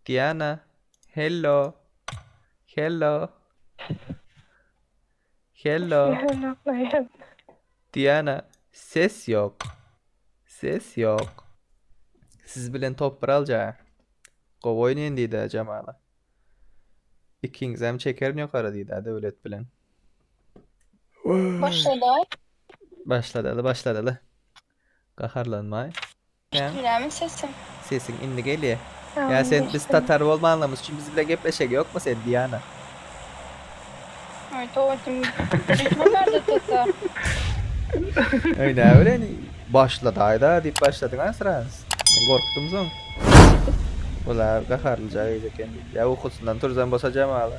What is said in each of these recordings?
Diana, hello. Hello. Hello. Diana, ses yok. Ses yok. Siz bilen top bir alca. Gow oynayın diýdi Jamala. Ikiňizem çekerin ýokary diýdi Döwlet bilen. Başlada. Başladaly başladaly. Gaharlanmaý. Eşidilýärmi sesim? Sesiň indi gelýär. Ýa indi sen biz eşidilýär. tatar bolmanlygymyz üçin biz bilen gepleşek ýokmy sen Diana? Aý dogrudan. Ýokmy barda tatar? Öý näbilen başladaýda diýip başladyň ha sraz. Men gorkdum soň. Bular gaharlyja gyz eken diýip. Ýa ukusyndan turzan bolsa jamaly.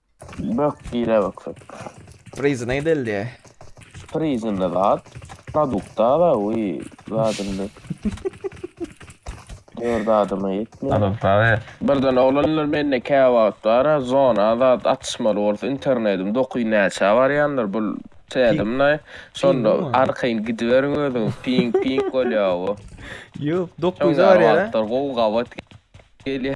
Bök gire baksak. Prizine gidildi. Prizinde zat. Produkta da uy zadında. Dört adıma yetmiyor. Adam tabi. Birden oglanlar mende kä wagt bara zona zat atyşmaly bolsa internetim dokuy näçä barýandyr bul tädim nay şonda arkaýyn gidiberiň özüňiz ping ping bolýa bu. Ýok dokuýda barýara. Gowy gabat gelýä.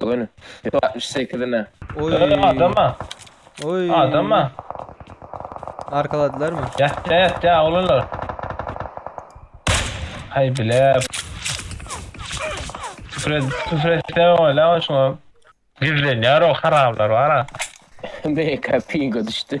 Bu gün Ýüpek altmyş sekizine. Oý. Adam adama. Oý. Adama. Arkaladylarmy? Ýatýa ýatýa oglanlar. Haý bile. Küfür et, küfür etse ola şoňa. Gizlenýär o haramlar bara. BK pinga düşdi.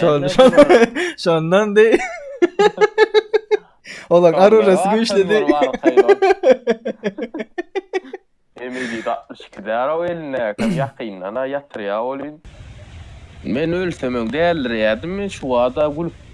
Şon, şon, şondan dey. Ola arurası güçli dey. Emeli de 62 dara o eline, kam yakyndan ha yatır ya olin. Men ölsem öň deldir yadim, şu ada gülüp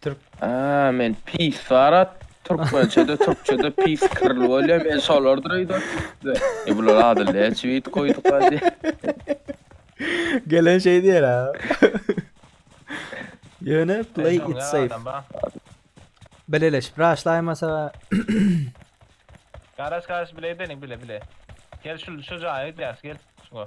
Türk. Aa men pis sarat türkmençede türkçede pis kirli bolýar men şolardyr öýdüp. E bular ady leç wit goýduk hadi. Gelen şey diýer ha. Ýöne play it safe. Bileleşip raşlaýmasa. Garaş garaş bile edenik bile bile. Gel şu şu jaýa gidýäs gel. Şu.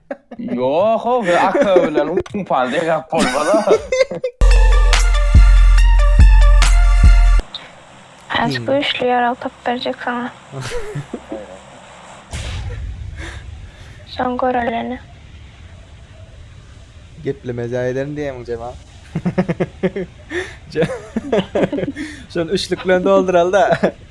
Ýok o bir akö bilen upan degap bolmaz-a. Aç güýçli ýarag tapyp berjek saňa. Soň göreleni. Gepleme jaý ederin diýemiň Jemal. Şony üçlük bilen dolduralyda.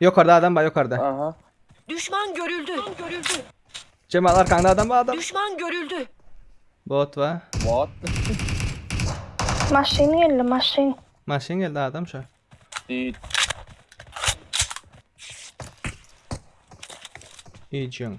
Ýokarda adam bar ýokarda. Aha. Düşman görüldü. Jemal arkaňda adam bar adam. Düşman görüldü. Bot bar. What? Maşyn geldi maşyn. Maşyn geldi adam şu. Dit. Ejin.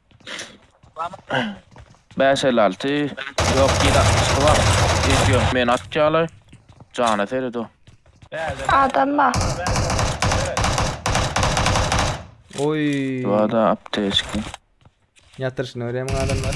Bäş elli alty. Ýok, ýedi altmyşky bar. Beş ýok, meni atýarlar. Jana seredo. Adam bar. Oý. Wada apteçki. Ýatyryşyny görýämiň adamlar?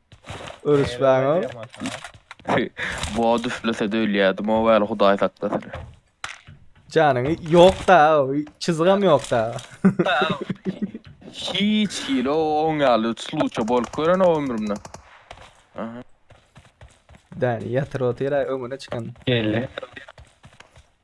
Örüşmäňe. Bot üflese de ölýärdim o gal hudaý saklasyn. Janyňy ýok da, çyzgam ýok da. Hiç hili o on ýaly sluça bolup gören o ömrümde. Däni ýatyr otyr öňüne çykan. Geldi.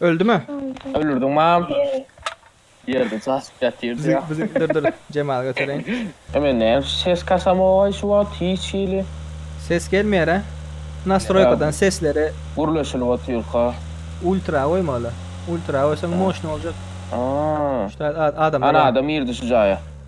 Öldüme. Öldüm. Ölürdiň mam. Ýeri. Ýerde sasyp ýatyrdy Bizi ýa. bizi dur dur Jemaly götereýin. E men näme ses kasamogay şu wagt hiç hili. Ses gelmeýär a. Nastroýkadan sesleri. Gürleşilip otyrka. Ultra goýmaly. Ultra goýsaň moşny boljak. Aa. Şutat adamlar Ana bar. adam girdi şu jaýa.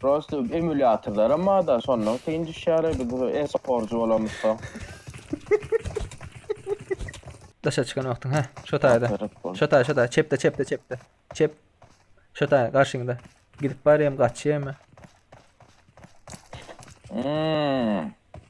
Prosta emulýatorlaram barda, şondan kyn düşýäler biz bu e-sporçy bolamyzda. Daşa çykan wagtyň, hä, şo taýda. Aferin bol. Şo taý, şo taý, çepde, çepde, çepde. Çep. Şo taý, garşyňda. Gidip barýam, gaçýamy? Hmm.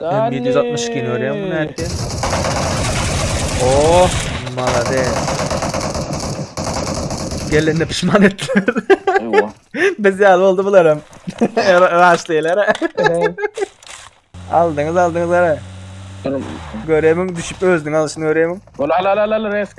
Hem 762 ni görýän bu näki. Oh, malades. Gelende pişman etdiler. Ewa. Biz ýaly boldy bular hem. Raşdylar. Aldyňyz, aldyňyz gara. Göremiň düşüp özüň alşyny göremiň. Ol al al al al resk.